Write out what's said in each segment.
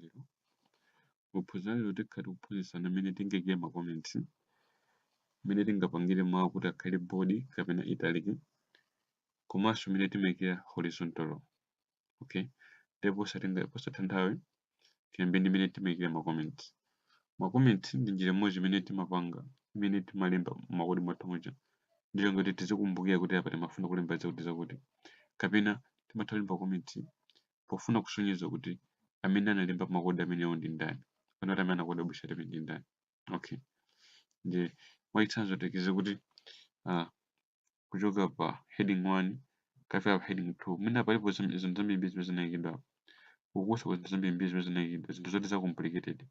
lero. Mu phunziro la lero tikhala tikuphunzitsana mmene tingaikire ma comments, mmene tingapangire mawu kuti akhale bold kapena italic, komanso mmene timaikira horizontal rule. Okay? Ndiye posataya posataya nthawi tiyambe ndi mmene timaikira ma comments. Ma comments ndi njira imodzi imene timapanga imene timalemba makodi mwathu muja. Ndiyo ngati tizikumbukira kuti apa timafuna kulemba zakuti zakuti. Kapena timatha kulemba comments pofuna kusonyeza kuti amene analemba makodi amenewo ndi ndani kapena kuti amene anakoda website imene ndi ndani okay ndiye mwachitsanzo tiyerekeze kuti uh, kuchoka pa heading 1 kukafika pa heading 2 mwina palipo zim- zinthu zambiri zimene zinaikidwa ukusaka zinthu zambiri zimene zinaikidwa zinthu zoti za complicated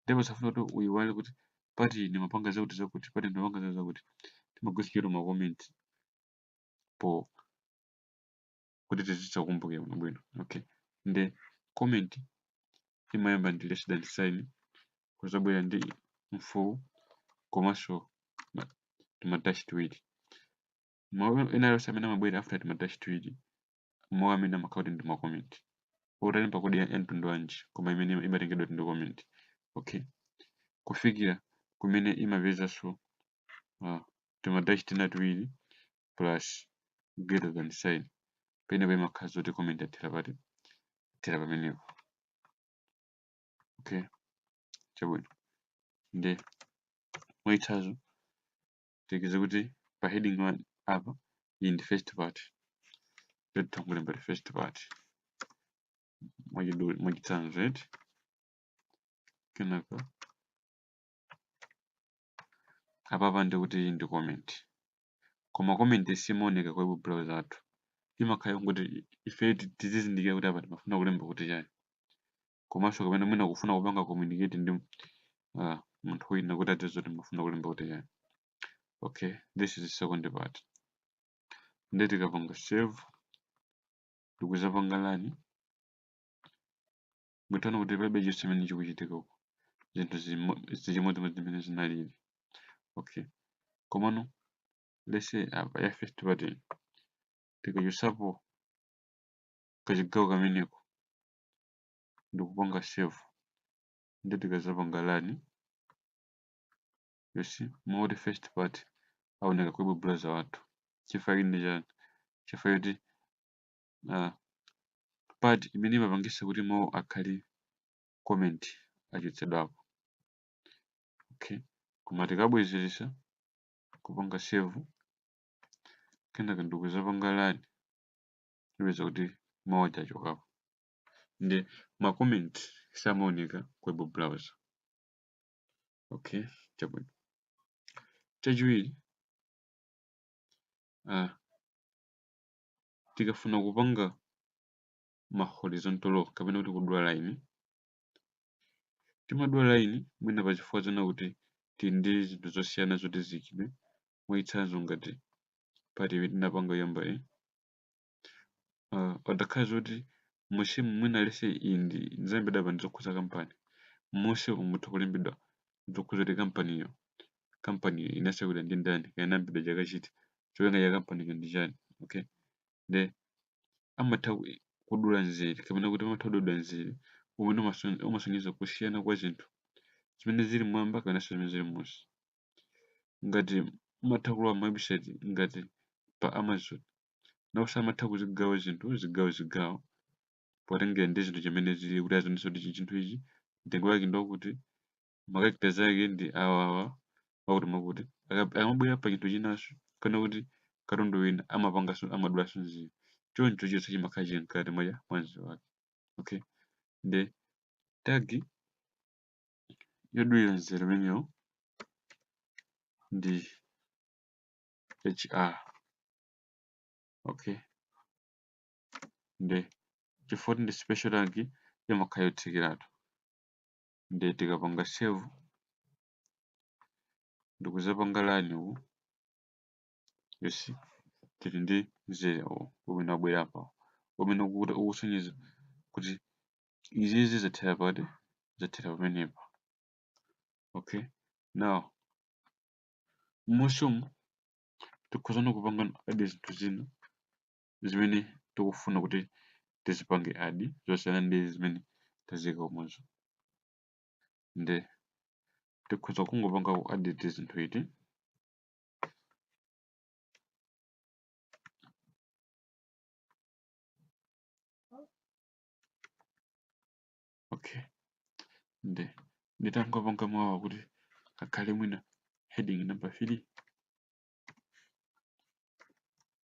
ndipo usafuna kuti uyiwale kuti pati ndimapanga zakuti zakuti pati ndimapanga zakuti zakuti timagwiritsa ntchito ma comment po kuti tizitha kukumbukira bwinobwino okay nde comment imayamba ndi less than sign kuzabwera ndi mfuwu komanso ma- timadashi tiwiri mawu ena yonse amene amabwera after timadashi tiwiri mawu amenewo amakhala kuti ndi ma comment utalemba kodi ya ya mtundu wanji koma imeneyo ima- imatengedwa kuti ndi comment okay kufikira kumene imapezanso uh, timadashi tina tiwiri plus greater than sign pamenepo imakhala zoti comment yathera pati yathera pamenepo okay chabwino nde mwachitsanzo tiyerekeze kuti pa heading 1 apa iyi ndi first part eti tangolemba kuti first part mwachitsanzo eti kenaka apapa ndi kuti iyi ndi comment koma comment simaoneka kwa web browser yathu imakhala yongoti ife tizizindikira kuti apa timafuna kulemba kuti chani komanso kapena mwina kufuna kupanga communicate ndi uh, munthu wina kuti adziwe zoti timafuna kulemba kuti chani okay this is the second part nde tikapanga save ndikuzapanga run mutha kuona kuti palibe chonse chimene chikuchitika uku zinthu zili chimodzimodzi mmene zinalili okay komano let's say apa ya first part tikachosapo kachigawo kameneko ndikupanga save ndi tikazapanga run you see moti first part aoneka ku web browser wathu chifukwa ndi chani chifukwa kuti uh, part imene imapangisa kuti mawu akhale comment achotsedwapo okay koma tikabwezeretsa kupanga save kenaka ndikuzapanga run tipeza kuti mawu aja achokapo nde ma comment samaoneka ku web browser okay chabwino chachiwiri uh, tikafuna kupanga ma horizontal rule kapena kuti kudula line timadula line mwina pa chifukwa china kuti tili ndi zinthu zosiyana zoti ziyikidwe mwachitsanzo ngati part imene tinapanga yoyamba iyi uh, padakhala zoti musimu mwina lese iyi zalembedwa apa ndi zokhudza kampani musimu mutha kulembedwa zokhudza kuti kampaniyo kampani inatsegulidwa ndi ndani kaya inayambidwa chaka chiti cholinga cha kampaniyo ndi chani okay nde amatha ku- kudula nzere kapena kuti amatha kudula nzere umene umason- umasonyeza kusiyana kwa zinthu zimene zili mwamba kapenanso zimene zili munsi ngati umatha kulowa mawebsite ngati pa amazon nawonso amatha kuzigawa zinthu zigawo zigawo potengera ndi zinthu zimene zili kuti azionesa kuti chi- chinthu ichi mtengo wake ndi wakuti ma character ake ndi awa awa akuti makuti Aka- akamabwera pa chinthu chinanso kapena kuti katundu wina amapanganso amadulaso nzere choncho chonse chimakhala chili mkati mwa mwa nzere wake okay nde tag yodulira nzere umenewo ndi hr okay nde chifukwa choti ndi special tag imakhala yotsekeratu nde tikapanga save ndikuzapanga run uku yes tili ndi mzere uwu umene wabwera apa umene ukuti ukusonyeza kuti izizi zathera pati zathera pamenepa okay now musimu tikhozano kupanga add zinthu zina zimene tikufuna kuti tizipange add zosiyana ndi zimene taziyika kumwezo nde tikhoza kungopanga ku add zinthu iti okay nde nditangopanga mawu kuti akhale mwina heading number 3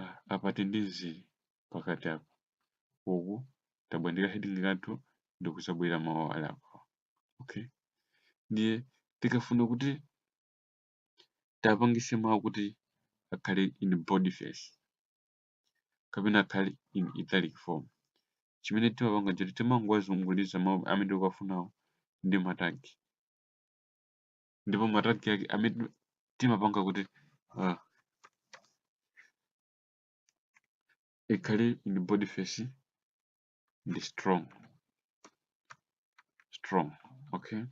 Ah, apa tili ndi mzere pakati apa uku tabwera ndi ka heading kathu ndikuzabwera mawu ali apa okay ndiye tikafuna kuti tapangise mawu kuti akhale in boldface kapena akhale in italic form chimene timapanga choti timangowazunguliza mawu amene tikuwafunawo ndi matagi ndipo matagi ake amene timapanga kuti uh, ikhale in boldface ndi strong strong okay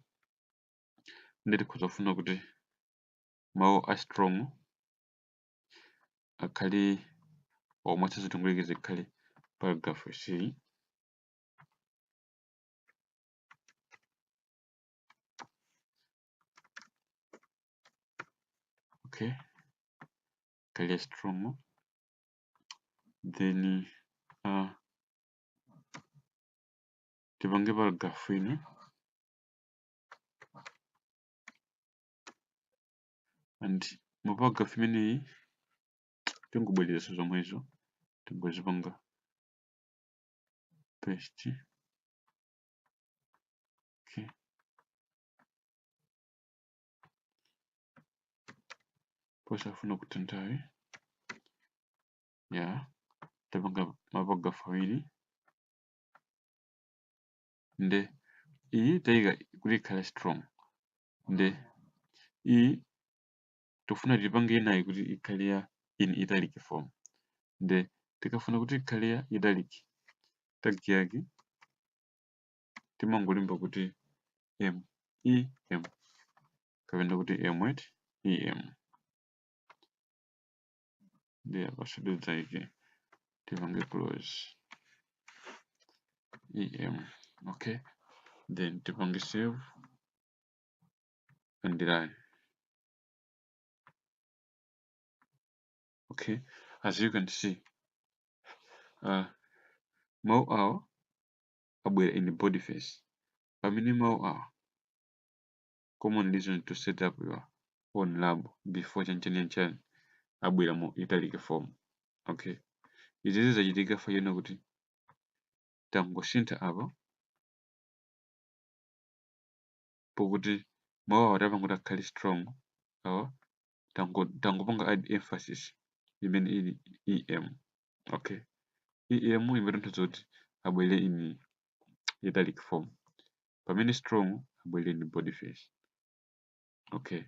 nde tikhoza kufuna kuti mawu a strong akhale omwe sizitungulike zikhale paragraph c okay akhale strong then uh, tipange paragraph ina and mu paragraph imeneyi tingobwereza zomwezo tingozipanga paste Okay. Posafuna kutha nthawi ya tapanga maparagrafu awiri nde iyi taika kuti ikhale strong nde iyi tikufuna tipange inayi kuti ikhale ya in italic form nde tikafuna kuti ikhale ya italic tag yake timangolemba kuti m e m kapena kuti m at e m nde apaso tidzaike tipange close e m okay then tipange save and run okay as you can see uh, mau awa abwera in boldface pamene mawu awa common reason to set up your own lab before chanichani chani abwera mu italic form okay izizi zachitika chifukwa chonena kuti tangosintha apa pokuti mawu awa tapanga kuti akhale strong awa tango tangopanga add emphasis imene ili em okay em imatanthauza kuti abwere in italic form pamene strong abwere in boldface okay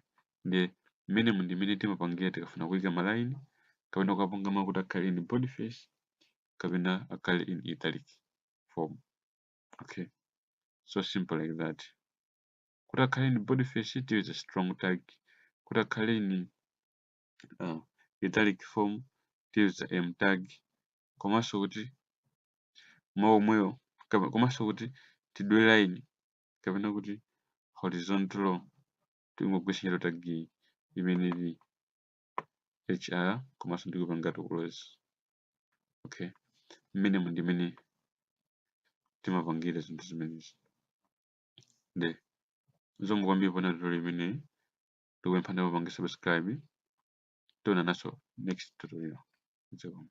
ndiye mmenemu ndi mmene timapangira tikafuna kuika malayini kapena kukapanga mawu kuti akhale in boldface kapena akhale in italic form okay so simple like that kuti akhale in boldface tiyuza strong tag kuti akhale in uh, italic form tiyuza em tag komanso kuti mawu omwewo kapa- komanso kuti tidule line kapena kuti horizontal tingogwiritsa ntchito tag iyi imene ili hr komanso ndikupanga to close okay mmenemu ndi mmene timapangira zinthu zimenezi nde zikomo kwambiri poonera tutorial imeneyi ndikupemphani mupange subscribe tionananso next tutorial zikomo